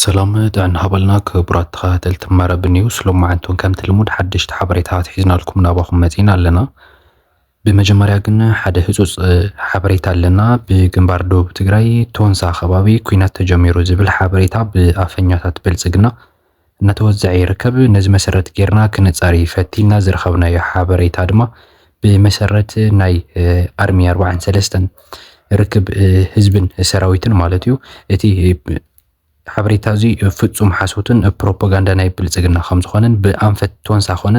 ሰላም ጥዕና ሃበልና ክቡራት ተኸታተልቲ መረብ ኒውስ ሎማዓንቱን ከምቲ ልሙድ ሓደሽቲ ሓበሬታታት ሒዝናልኩም ናባኹም መፂና ኣለና። ብመጀመርያ ግን ሓደ ህፁፅ ሓበሬታ ኣለና። ብግንባር ደቡብ ትግራይ ቶንሳ ከባቢ ኩናት ተጀሚሩ ዝብል ሓበሬታ ብኣፈኛታት ብልፅግና እናተወዘዐ ይርከብ። ነዚ መሰረት ጌርና ክነጻሪ ፈቲንና ዝረኸብናዮ ሓበሬታ ድማ ብመሰረት ናይ ኣርሚ ኣርባዓን ሰለስተን ርክብ ህዝብን ሰራዊትን ማለት እዩ እቲ ሓበሬታ እዚ ፍጹም ሓሶትን ፕሮፓጋንዳ ናይ ብልጽግና ከም ዝኾነን ብኣንፈት ቶንሳ ኮነ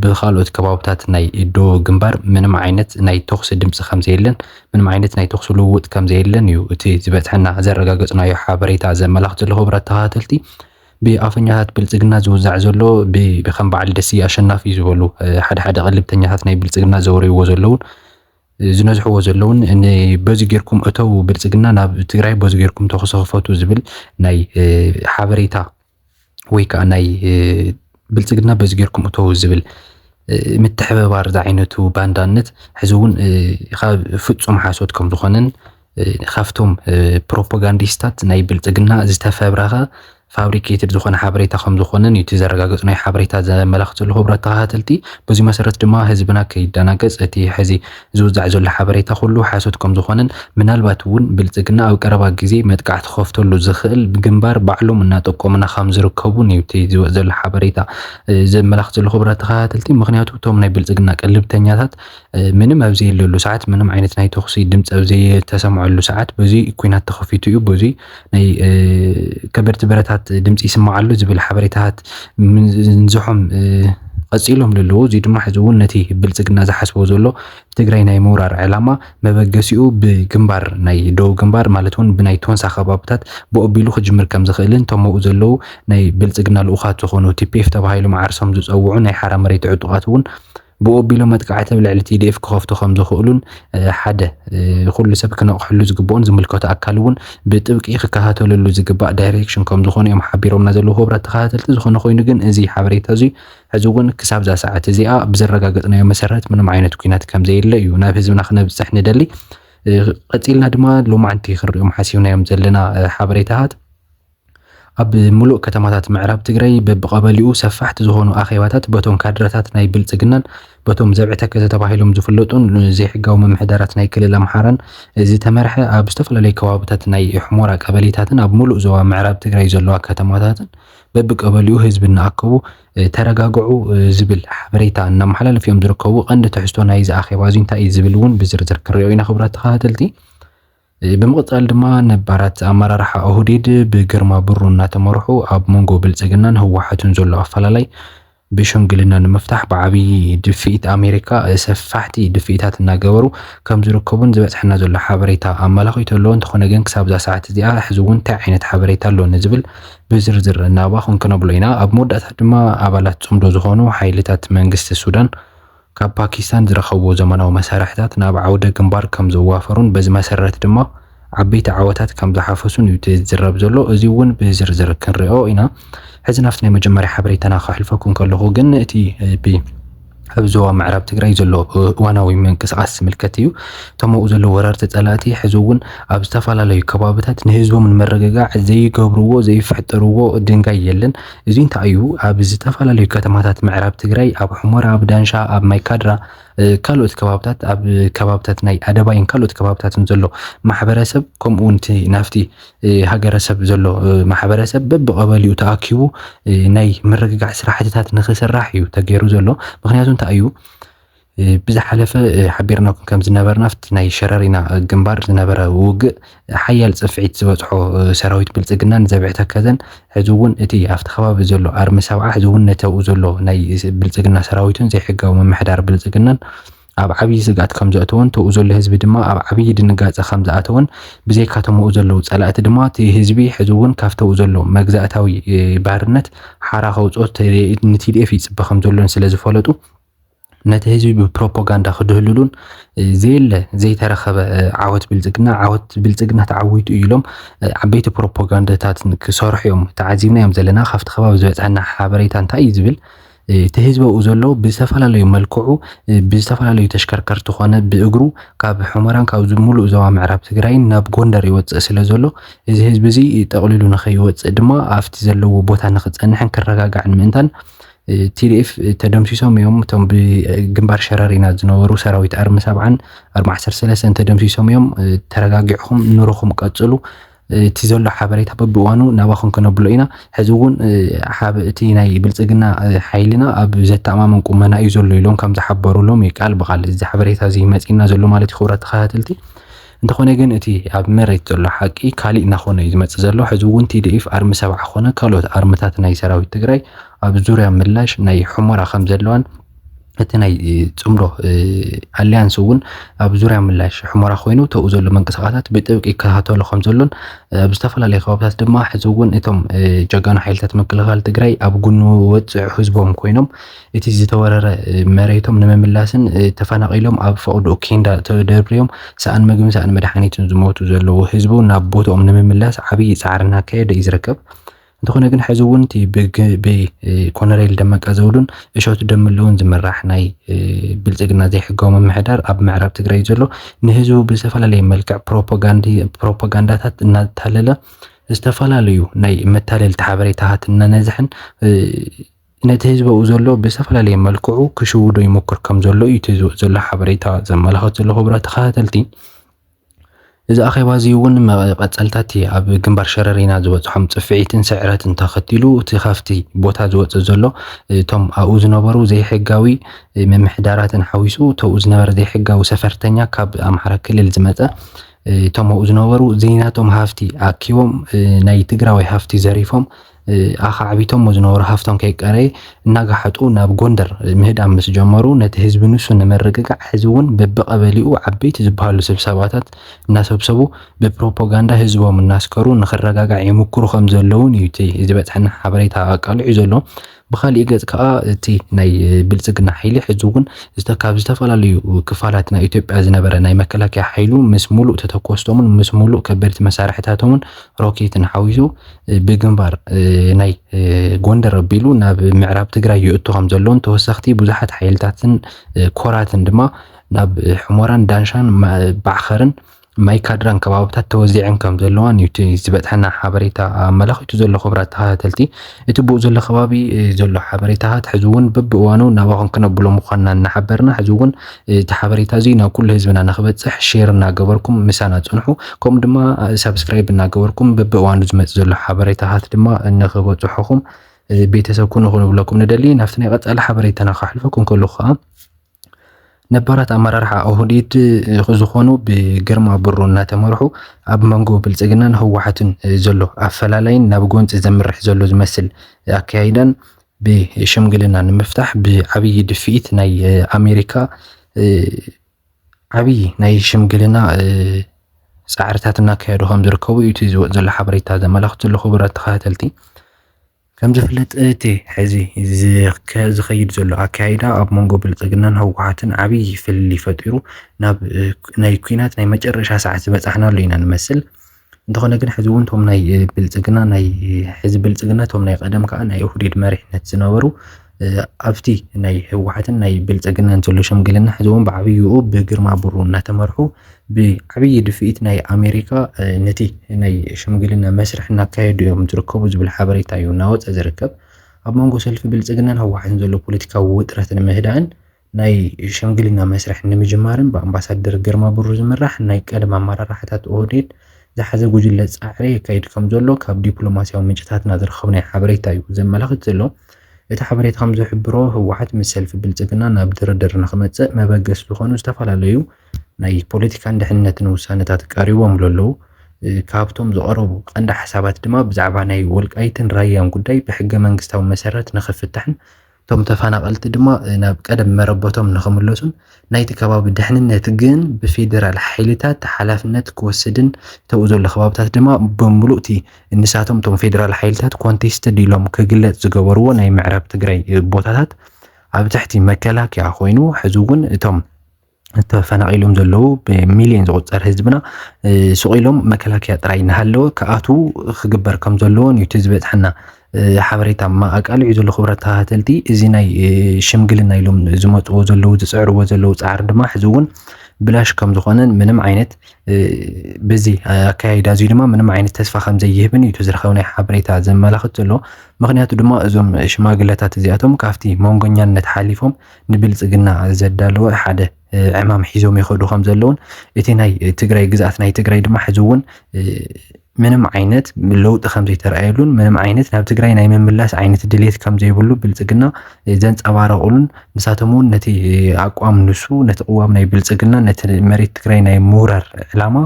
ብካልኦት ከባብታት ናይ ዶ ግንባር ምንም ዓይነት ናይ ተኹሲ ድምፂ ከም ዘየለን ምንም ዓይነት ናይ ተኹሲ ልውውጥ ከም ዘየለን እዩ እቲ ዝበፅሐና ዘረጋገፅናዮ ሓበሬታ ዘመላኽት ዘለኹ ብረት ተኸታተልቲ ብኣፈኛታት ብልፅግና ዝውዛዕ ዘሎ ብከም በዓል ደስየ ኣሸናፊ ዝበሉ ሓደ ሓደ ቅልብተኛታት ናይ ብልፅግና ዘውርይዎ ዘለውን ዝነዝሕዎ ዘለውን በዚ ጌርኩም እተው ብልፅግና ናብ ትግራይ በዚ ጌርኩም ተኹሲ ክፈቱ ዝብል ናይ ሓበሬታ ወይ ከዓ ናይ ብልፅግና በዚ ጌርኩም እተው ዝብል ምትሕብባር ዝዓይነቱ ባንዳነት ሕዚ እውን ካብ ፍፁም ሓሶት ከም ዝኾነን ካብቶም ፕሮፓጋንዲስታት ናይ ብልፅግና ዝተፈብረኸ ፋብሪኬትድ ዝኾነ ሓበሬታ ከም ዝኾነን እዩ እቲ ዘረጋገፁ ናይ ሓበሬታ ዘመላኽት ዘሎ ክቡራት ተኸታተልቲ። በዚ መሰረት ድማ ህዝብና ከይደናገፅ እቲ ሕዚ ዝውዛዕ ዘሎ ሓበሬታ ኩሉ ሓሶት ከም ዝኾነን ምናልባት እውን ብልፅግና ኣብ ቀረባ ግዜ መጥቃዕቲ ክኸፍተሉ ዝኽእል ግንባር ባዕሎም እናጠቆሙና ከም ዝርከቡን እዩ እቲ ዝወፅ ዘሎ ሓበሬታ ዘመላኽት ዘሎ ክቡራት ተኸታተልቲ። ምክንያቱ እቶም ናይ ብልፅግና ቅልብተኛታት ምንም ኣብ ዘየለሉ ሰዓት ምንም ዓይነት ናይ ተኹሲ ድምፂ ኣብ ዘይተሰምዐሉ ሰዓት በዚ ኩናት ተኸፊቱ እዩ በዚ ናይ ከበድቲ ብረታት ድምፂ ይስምዓሉ ዝብል ሓበሬታታት ንዝሖም ቀፂሎም ዘለዎ እዚ ድማ ሕዚ እውን ነቲ ብልፅግና ዝሓስቦ ዘሎ ትግራይ ናይ ምውራር ዕላማ መበገሲኡ ብግንባር ናይ ደቡብ ግንባር ማለት እውን ብናይ ቶንሳ ከባብታት ብኦቢሉ ክጅምር ከም ዝኽእልን ተመኡ ዘለዉ ናይ ብልፅግና ልኡኻት ዝኾኑ ቲፒኤፍ ተባሂሎም ዓርሶም ዝፀውዑ ናይ ሓራ መሬት ዕጡቓት እውን ብኡ ኣቢሎም መጥቃዕቲ ኣብ ልዕሊ ቲዲኤፍ ክኸፍቱ ከም ዝኽእሉን ሓደ ኩሉ ሰብ ክነቕሐሉ ዝግብኦን ዝምልከቶ ኣካል እውን ብጥብቂ ክከታተለሉ ዝግባእ ዳይሬክሽን ከም ዝኾኑ እዮም ሓቢሮምና ዘለዉ ክቡራት ተኸታተልቲ። ዝኾነ ኮይኑ ግን እዚ ሓበሬታ እዙይ ሕዚ እውን ክሳብዛ ሰዓት እዚኣ ብዘረጋገጽናዮ መሰረት ምንም ዓይነት ኩናት ከም ዘየለ እዩ ናብ ህዝብና ክነብጽሕ ንደሊ። ቀጺልና ድማ ሎማዕንቲ ክንሪኦም ሓሲብናዮም ዘለና ሓበሬታታት ኣብ ሙሉእ ከተማታት ምዕራብ ትግራይ በብቐበሊኡ ሰፋሕቲ ዝኾኑ ኣኼባታት በቶም ካድረታት ናይ ብልፅግናን በቶም ዘብዒ ተከዘ ተባሂሎም ዝፍለጡን ዘይሕጋዊ ምምሕዳራት ናይ ክልል ኣምሓራን ዝተመርሐ ኣብ ዝተፈላለዩ ከባብታት ናይ ሑሞራ ቀበሌታትን ኣብ ሙሉእ ዞባ ምዕራብ ትግራይ ዘለዋ ከተማታትን በብቀበሊኡ ህዝቢ እናኣከቡ ተረጋግዑ ዝብል ሓበሬታ እናመሓላለፉ እዮም ዝርከቡ። ቀንዲ ትሕዝቶ ናይዚ ኣኼባ እዚ እንታይ እዩ ዝብል እውን ብዝርዝር ክንሪኦ ኢና ክቡራት ተኸታተልቲ። ብምቕፃል ድማ ነባራት ኣመራርሓ ኦህዴድ ብግርማ ብሩ እናተመርሑ ኣብ መንጎ ብልፅግናን ህወሓትን ዘሎ ኣፈላላይ ብሽምግልና ንምፍታሕ ብዓብዪ ድፍኢት ኣሜሪካ ሰፋሕቲ ድፍኢታት እናገበሩ ከም ዝርከቡን ዝበፅሐና ዘሎ ሓበሬታ ኣመላኺቱ ኣሎ። እንተኾነ ግን ክሳብዛ ሰዓት እዚኣ ሕዚ እውን እንታይ ዓይነት ሓበሬታ ኣሎ ንዝብል ብዝርዝር እናባኹን ክነብሎ ኢና። ኣብ መወዳእታ ድማ ኣባላት ፅምዶ ዝኾኑ ሓይልታት መንግስቲ ሱዳን ካብ ፓኪስታን ዝረኸብዎ ዘመናዊ መሳርሕታት ናብ ዓውደ ግንባር ከም ዘዋፈሩን በዚ መሰረት ድማ ዓበይቲ ዓወታት ከም ዝሓፈሱን እዩ እቲ ዝዝረብ ዘሎ። እዚ እውን ብዝርዝር ክንሪኦ ኢና። ሕዚ ናብቲ ናይ መጀመርያ ሓበሬታና ከሕልፈኩም ከለኹ ግን እቲ ብ ኣብ ዞባ ምዕራብ ትግራይ ዘሎ እዋናዊ ምንቅስቓስ ዝምልከት እዩ። እቶም ኣብኡ ዘለዉ ወረርቲ ጸላእቲ ሕዚ እውን ኣብ ዝተፈላለዩ ከባብታት ንህዝቦም ንምርግጋዕ ዘይገብርዎ ዘይፍሕጥርዎ ድንጋይ የለን። እዙይ እንተኣዩ ኣብ ዝተፈላለዩ ከተማታት ምዕራብ ትግራይ ኣብ ሑመራ፣ ኣብ ዳንሻ፣ ኣብ ማይካድራ ካልኦት ከባብታት ኣብ ከባብታት ናይ ኣደባይን ካልኦት ከባብታትን ዘሎ ማሕበረሰብ ከምኡ እውን እቲ ናፍቲ ሃገረሰብ ዘሎ ማሕበረሰብ በብቐበሊኡ ተኣኪቡ ናይ ምርግጋዕ ስራሕትታት ንክስራሕ እዩ ተገይሩ ዘሎ። ምክንያቱ እንታይ እዩ ብዝሓለፈ ሓቢርናኩም ከም ዝነበርና ኣብቲ ናይ ሸረሪና ግንባር ዝነበረ ውግእ ሓያል ጽፍዒት ዝበጽሖ ሰራዊት ብልጽግና ንዘብዒ ተከዘን ሕዚ እውን እቲ ኣብቲ ከባቢ ዘሎ ኣርሚ ሰብዓ ሕዚ እውን ነተብኡ ዘሎ ናይ ብልጽግና ሰራዊትን ዘይሕጋዊ ምምሕዳር ብልጽግናን ኣብ ዓብዪ ስግኣት ከም ዘእተወን ተብኡ ዘሎ ህዝቢ ድማ ኣብ ዓብዪ ድንጋጸ ከም ዝኣተወን ብዘይካቶም ኣብኡ ዘለዉ ጸላእቲ ድማ እቲ ህዝቢ ሕዚ እውን ካብቲ ኣብኡ ዘሎ መግዛእታዊ ባርነት ሓራ ከውጽኦ ንቲ ቲዲኤፍ ይጽበ ከም ዘሎን ስለ ዝፈለጡ ነቲ ህዝቢ ብፕሮፓጋንዳ ክድህልሉን ዘየለ ዘይተረኸበ ዓወት ብልፅግና ዓወት ብልፅግና ተዓዊቱ እዩ ኢሎም ዓበይቲ ፕሮፓጋንዳታት ክሰርሑ እዮም ተዓዚብና እዮም ዘለና ካብቲ ከባቢ ዝበፅሐና ሓበሬታ እንታይ እዩ ዝብል እቲ ህዝቢ ኣብኡ ዘሎ ብዝተፈላለዩ መልክዑ ብዝተፈላለዩ ተሽከርከርቲ ኮነ ብእግሩ ካብ ሑመራን ካብ ሙሉእ ዞባ ምዕራብ ትግራይን ናብ ጎንደር ይወፅእ ስለ ዘሎ እዚ ህዝቢ እዚ ጠቕሊሉ ንኸይወፅእ ድማ ኣብቲ ዘለዎ ቦታ ንክፀንሕን ክረጋጋዕን ምእንታን ቲዲኤፍ ተደምሲሶም እዮም እቶም ብግንባር ሸረሪና ዝነበሩ ሰራዊት ኣርሚ ሰብዓን ኣርሚ ዓሰርተ ሰለስተን ተደምሲሶም እዮም ተረጋጊዕኹም ኑርኹም ቀፅሉ እቲ ዘሎ ሓበሬታ በብእዋኑ ናባኹም ክነብሎ ኢና ሕዚ እውን እቲ ናይ ብልፅግና ሓይልና ኣብ ዘተኣማምን ቁመና እዩ ዘሎ ኢሎም ከም ዝሓበሩሎም እዩ ቃል ብቃል እዚ ሓበሬታ እዚ መፂና ዘሎ ማለት እዩ ክብራት ተኸታተልቲ እንተኾነ ግን እቲ ኣብ መሬት ዘሎ ሓቂ ካሊእ ናኾነ እዩ ዝመፅእ ዘሎ። ሕዚ እውን TDF ኣርሚ ሰብዓ ኮነ ካልኦት ኣርምታት ናይ ሰራዊት ትግራይ ኣብ ዙርያ ምላሽ ናይ ሑመራ ከምዘለዋን እቲ ናይ ፅምዶ ኣሊያንስ እውን ኣብ ዙርያ ምላሽ ሑመራ ኮይኑ ተብኡ ዘሎ ምንቅስቃሳት ብጥብቂ ይከታተሎ ከምዘሎን ኣብ ዝተፈላለዩ ከባብታት ድማ ሕዚ እውን እቶም ጀጋኑ ሓይልታት ምክልኻል ትግራይ ኣብ ጉኑ ወፅዕ ህዝቦም ኮይኖም እቲ ዝተወረረ መሬቶም ንምምላስን ተፈናቒሎም ኣብ ፈቕድኡ ኬንዳ ተደርብዮም ሰኣን ምግብን ሰኣን መድሓኒትን ዝሞቱ ዘለዉ ህዝቢ'ውን ናብ ቦትኦም ንምምላስ ዓብዪ ፃዕሪ እናካየደ እዩ ዝርከብ። እንተኾነ ግን ሕዚ እውን እቲ ብኮነሬል ደመቀ ዘውዱን እሸቱ ደምለውን ዝምራሕ ናይ ብልፅግና ዘይሕጋዊ ምምሕዳር ኣብ ምዕራብ ትግራይ ዘሎ ንህዝቡ ብዝተፈላለየ መልክዕ ፕሮፓጋንዳታት እናታለለ ዝተፈላለዩ ናይ መታለልቲ ሓበሬታታት እናነዝሐን ነቲ ህዝቢ ኣብኡ ዘሎ ብዝተፈላለየ መልክዑ ክሽውዶ ይሞክር ከም ዘሎ እዩ እቲ ዝወፅ ዘሎ ሓበሬታ ዘመላኽት ዘሎ ክቡራት ተኸታተልቲ። እዚ ኣኼባ እዚ እውን መቐፀልታት ኣብ ግንባር ሸረሪና ዝበፅሖም ፅፍዒትን ስዕረትን ተኸቲሉ እቲ ካብቲ ቦታ ዝወፅእ ዘሎ እቶም ኣብኡ ዝነበሩ ዘይሕጋዊ ምምሕዳራትን ሓዊሱ ተብኡ ዝነበረ ዘይሕጋዊ ሰፈርተኛ ካብ ኣምሓራ ክልል ዝመፀ እቶም ኣብኡ ዝነበሩ ዘይናቶም ሃፍቲ ኣኪቦም ናይ ትግራዋይ ሃፍቲ ዘሪፎም ኣኻዕቢቶሞ ዝነበሩ ሃፍቶም ከይቀረየ እናጋሓጡ ናብ ጎንደር ምህዳም ምስ ጀመሩ ነቲ ህዝቢ ንሱ ንምርግጋዕ ሕዚ እውን በብቐበሊኡ ዓበይቲ ዝበሃሉ ስብሰባታት እናሰብሰቡ ብፕሮፓጋንዳ ህዝቦም እናስከሩ ንክረጋጋዕ ይምክሩ ከም ዘለውን እዩ እቲ ዝበፅሐና ሓበሬታ ኣቃሊዑ ዘሎ። ብካሊእ ገፅ ከዓ እቲ ናይ ብልፅግና ሓይሊ ሕዚ እውን ካብ ዝተፈላለዩ ክፋላት ናይ ኢትዮጵያ ዝነበረ ናይ መከላከያ ሓይሉ ምስ ሙሉእ ተተኮስቶምን ምስ ሙሉእ ከበድቲ መሳርሕታቶምን ሮኬትን ሓዊሱ ብግንባር ናይ ጎንደር ኣቢሉ ናብ ምዕራብ ትግራይ ይእቱ ከም ዘሎን ተወሰኽቲ ብዙሓት ሓይልታትን ኮራትን ድማ ናብ ሕሞራን ዳንሻን ባዕኸርን ማይ ካድራን ከባብታት ተወዚዐን ከም ዘለዋን እዩ እቲ ዝበፅሐና ሓበሬታ ኣመላኺቱ ዘሎ ክብራት ተኸታተልቲ እቲ ብኡ ዘሎ ከባቢ ዘሎ ሓበሬታታት ሕዚ እውን በብእዋኑ ናባኹም ክነብሎ ምዃንና እናሓበርና ሕዚ እውን እቲ ሓበሬታ እዙይ ናብ ኩሉ ህዝብና ንክበፅሕ ሼር እናገበርኩም ምሳና ፅንሑ። ከምኡ ድማ ሳብስክራይብ እናገበርኩም በቢእዋኑ ዝመፅእ ዘሎ ሓበሬታታት ድማ ንክበፅሑኹም ቤተሰብ ኩኑ ክንብለኩም ንደሊ። ናብቲ ናይ ቀፃሊ ሓበሬታና ካሕልፈኩም ከለኹ ከዓ ነባራት ኣመራርሓ ኦህዴድ ዝኾኑ ብግርማ ብሩ እናተመርሑ ኣብ መንጎ ብልፅግናን ህወሓትን ዘሎ ኣፈላላይን ናብ ጎንፂ ዘምርሕ ዘሎ ዝመስል ኣካያይዳን ብሽምግልና ንምፍታሕ ብዓብዪ ድፍኢት ናይ ኣሜሪካ ዓብዪ ናይ ሽምግልና ፃዕርታት እናካየዱ ከም ዝርከቡ እዩ እቲ ዝወፅ ዘሎ ሓበሬታ ዘመላኽት ዘሎ ክቡራት ተኸታተልቲ። ከም ዝፍለጥ እቲ ሕዚ ዝኸይድ ዘሎ ኣካይዳ ኣብ መንጎ ብልፅግናን ህወሓትን ዓብዪ ፍልልይ ፈጢሩ ናብ ናይ ኩናት ናይ መጨረሻ ሰዓት ዝበፃሕናሉ ኢና ንመስል። እንተኾነ ግን ሕዚ እውን እቶም ናይ ብልፅግና ናይ ሕዚ ብልፅግና እቶም ናይ ቀደም ከዓ ናይ ኦህዴድ መሪሕነት ዝነበሩ ኣብቲ ናይ ህወሓትን ናይ ብልፅግናን ዘሎ ሽምግልና ሕዚ እውን ብዓብይኡ ብግርማ ብሩ እናተመርሑ ብዓብዪ ድፍኢት ናይ ኣሜሪካ ነቲ ናይ ሽምግልና መስርሕ እናካየዱ እዮም ዝርከቡ ዝብል ሓበሬታ እዩ እናወፀ ዝርከብ ኣብ መንጎ ሰልፊ ብልፅግናን ህወሓትን ዘሎ ፖለቲካዊ ውጥረት ንምህዳእን ናይ ሸምግሊና መስርሕ ንምጅማርን ብኣምባሳደር ግርማ ብሩ ዝምራሕ ናይ ቀደም ኣመራርሓታት ኦህዴድ ዝሓዘ ጉጅለ ፃዕሪ የካይድ ከምዘሎ ካብ ዲፕሎማሲያዊ ምንጭታትና ዝረኸብናዮ ሓበሬታ እዩ ዘመላኽት ዘሎ። እቲ ሓበሬታ ከምዝሕብሮ ህወሓት ምስ ሰልፊ ብልፅግና ናብ ድርድር ንክመፅእ መበገሲ ዝኾኑ ዝተፈላለዩ ናይ ፖለቲካን ድሕንነትን ውሳነታት ቀሪቦምሉ ኣለዉ። ካብቶም ዝቐረቡ ቀንዲ ሓሳባት ድማ ብዛዕባ ናይ ወልቃይትን ራያን ጉዳይ ብሕገ መንግስታዊ መሰረት ንክፍታሕን እቶም ተፈናቐልቲ ድማ ናብ ቀደም መረበቶም ንክምለሱን ናይቲ ከባቢ ድሕንነት ግን ብፌዴራል ሓይልታት ሓላፍነት ክወስድን እተብኡ ዘሎ ከባብታት ድማ ብምሉእቲ ንሳቶም እቶም ፌዴራል ሓይልታት ኮንቴስትድ ኢሎም ክግለፅ ዝገበርዎ ናይ ምዕራብ ትግራይ ቦታታት ኣብ ትሕቲ መከላከያ ኮይኑ ሕዚ እውን እቶም ተፈናቒሎም ዘለዉ ብሚልዮን ዝቑፀር ህዝብና ሱቕ ኢሎም መከላከያ ጥራይ እናሃለወ ክኣትዉ ክግበር ከም ዘለዎን እዩ እቲ ዝበፅሐና ሓበሬታ ኣቃሊዑ ዘሎ ክብረት ተኸታተልቲ እዚ ናይ ሽምግልና ኢሎም ዝመፅዎ ዘለዉ ዝፅዕርዎ ዘለዉ ፃዕሪ ድማ ሕዚ እውን ብላሽ ከም ዝኾነን ምንም ዓይነት በዚ ኣካያይዳ እዙይ ድማ ምንም ዓይነት ተስፋ ከም ዘይህብን እዩ እቲ ዝረኸብናይ ሓበሬታ ዘመላኽት ዘሎ ምክንያቱ ድማ እዞም ሽማግለታት እዚኣቶም ካብቲ መንጎኛነት ሓሊፎም ንብልፅግና ዘዳለወ ሓደ ዕማም ሒዞም ይኸዱ ከም ዘለውን እቲ ናይ ትግራይ ግዝኣት ናይ ትግራይ ድማ ሕዚ እውን ምንም ዓይነት ለውጢ ከም ዘይተረኣየሉን ምንም ዓይነት ናብ ትግራይ ናይ ምምላስ ዓይነት ድሌት ከም ዘይብሉ ብልፅግና ዘንፀባረቑሉን ንሳቶም እውን ነቲ ኣቋም ንሱ ነቲ ቅዋም ናይ ብልፅግና ነቲ መሬት ትግራይ ናይ ምውራር ዕላማ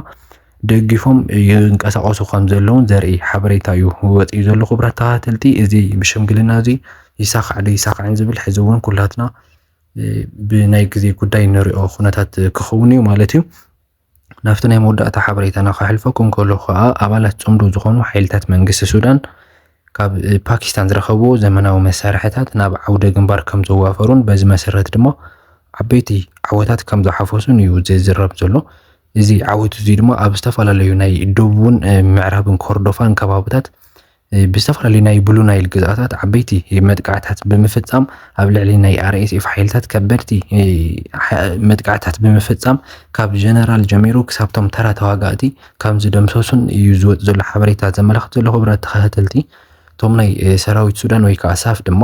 ደጊፎም ይንቀሳቐሱ ከም ዘለውን ዘርኢ ሓበሬታ እዩ ወፂኡ ዘሎ። ክቡራት ተኸታተልቲ እዚ ብሽምግልና እዚ ይሳኻዕ ዶ ይሳኻዕን ዝብል ሕዚ እውን ኩላትና ብናይ ግዜ ጉዳይ ንሪኦ ኩነታት ክኸውን እዩ ማለት እዩ። ናብቲ ናይ መወዳእታ ሓበሬታና ከሕልፈኩም ከሎ ከዓ ኣባላት ፅምዶ ዝኾኑ ሓይልታት መንግስቲ ሱዳን ካብ ፓኪስታን ዝረኸብዎ ዘመናዊ መሳርሕታት ናብ ዓውደ ግንባር ከም ዘዋፈሩን በዚ መሰረት ድማ ዓበይቲ ዓወታት ከም ዝሓፈሱን እዩ ዝዝረብ ዘሎ። እዚ ዓወት እዚ ድማ ኣብ ዝተፈላለዩ ናይ ደቡብን ምዕራብን ኮርዶፋን ከባብታት ብዝተፈላለዩ ናይ ብሉ ናይል ግዝኣታት ዓበይቲ መጥቃዕታት ብምፍፃም ኣብ ልዕሊ ናይ ኣርኤስኤፍ ሓይልታት ከበድቲ መጥቃዕታት ብምፍፃም ካብ ጀነራል ጀሚሩ ክሳብቶም ተራ ተዋጋእቲ ከም ዝደምሰሱን እዩ ዝወፅ ዘሎ ሓበሬታ ዘመላኽት ዘሎ ክብረት ተኸታተልቲ እቶም ናይ ሰራዊት ሱዳን ወይ ከዓ ሳፍ ድማ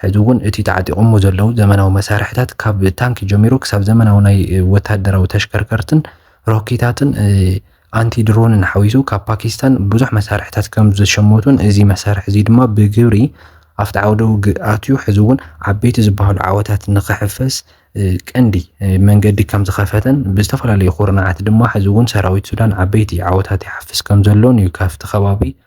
ሕዚ እውን እቲ ተዓጢቆሞ ዘለዉ ዘመናዊ መሳርሕታት ካብ ታንኪ ጀሚሩ ክሳብ ዘመናዊ ናይ ወታደራዊ ተሽከርከርትን ሮኬታትን ኣንቲ ድሮንን ሓዊሱ ካብ ፓኪስታን ብዙሕ መሳርሕታት ከም ዝሸመቱን እዚ መሳርሒ እዚ ድማ ብግብሪ ኣብቲ ዓውደ ውግእ ኣትዩ ሕዚ እውን ዓበይቲ ዝበሃሉ ዓወታት ንክሕፈስ ቀንዲ መንገዲ ከም ዝኸፈተን ብዝተፈላለዩ ኩርናዓት ድማ ሕዚ እውን ሰራዊት ሱዳን ዓበይቲ ዓወታት ይሓፍስ ከም ዘሎን እዩ ካብቲ ከባቢ